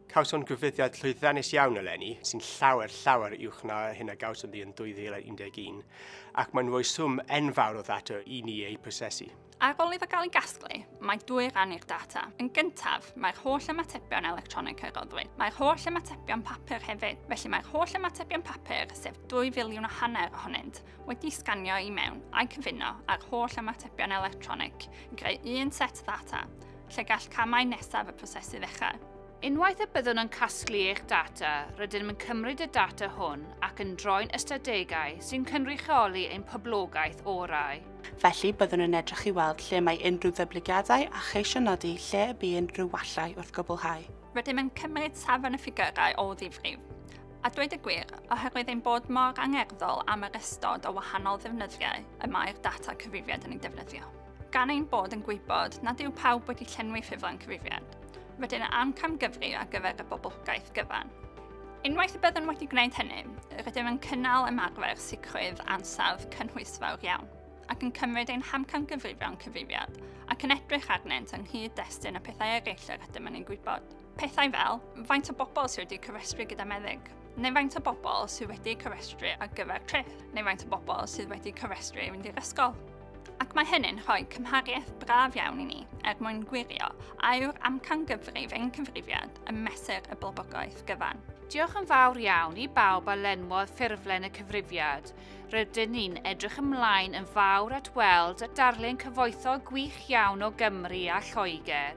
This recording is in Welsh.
Cawson grwyddiad llwyddiannus iawn eleni, sy'n llawer, llawer uwch na hyn a gawson ni yn 2011, ac mae'n rhoi swm enfawr o ddata i ni ei prosesu. Ar ôl iddo gael ei gasglu, mae dwy ran i'r data. Yn gyntaf, mae'r holl ymatebion electronig a roddwyd. Mae'r holl ymatebion papur hefyd, felly mae'r holl ymatebion papur, sef 2 filiwn o hanner ohonynt, wedi sganio i mewn a'i cyfuno â'r holl ymatebion electronig i greu un set ddata lle gall camau nesaf y prosesu ddechrau. Unwaith y byddwn yn casglu eich data, rydym yn cymryd y data hwn ac yn droi'n ystadegau sy'n cynrychioli ein poblogaeth orau. Felly, byddwn yn edrych i weld lle mae unrhyw ddyblygiadau a cheisio nodi lle y bu unrhyw wallau wrth gwblhau. Rydym yn cymryd safon y ffigyrau o ddifrif. A dweud y gwir, oherwydd ein bod mor angerddol am yr ystod o wahanol ddefnyddiau y mae'r data cyfrifiad yn ei defnyddio. Gan ein bod yn gwybod nad yw pawb wedi llenwi ffurflen cyfrifiad, rydyn am camgyfri ar gyfer y boblogaeth gyfan. Unwaith y byddwn wedi gwneud hynny, rydym yn cynnal ymarfer sicrwydd ansawdd cynhwysfawr iawn ac yn cymryd ein hamcangyfrifon cyfrifiad ac yn edrych arnynt yng nghyd-destun y pethau eraill yr ydym yn ei gwybod. Pethau fel faint o bobl sydd wedi cyfrestru gyda meddyg, neu faint o bobl sydd wedi cyfrestru ar gyfer trip, neu faint o bobl sydd wedi cyfrestru i fynd i'r ysgol. Ac mae hynny'n rhoi cymhariaeth braf iawn i ni er mwyn gwirio a yw'r amcan gyfrif ein cyfrifiad yn mesur y bobogaeth gyfan. Diolch yn fawr iawn i bawb a lenwodd ffurflen y cyfrifiad. Rydyn ni'n edrych ymlaen yn fawr at weld a darllen cyfoethog gwych iawn o Gymru a Lloegr.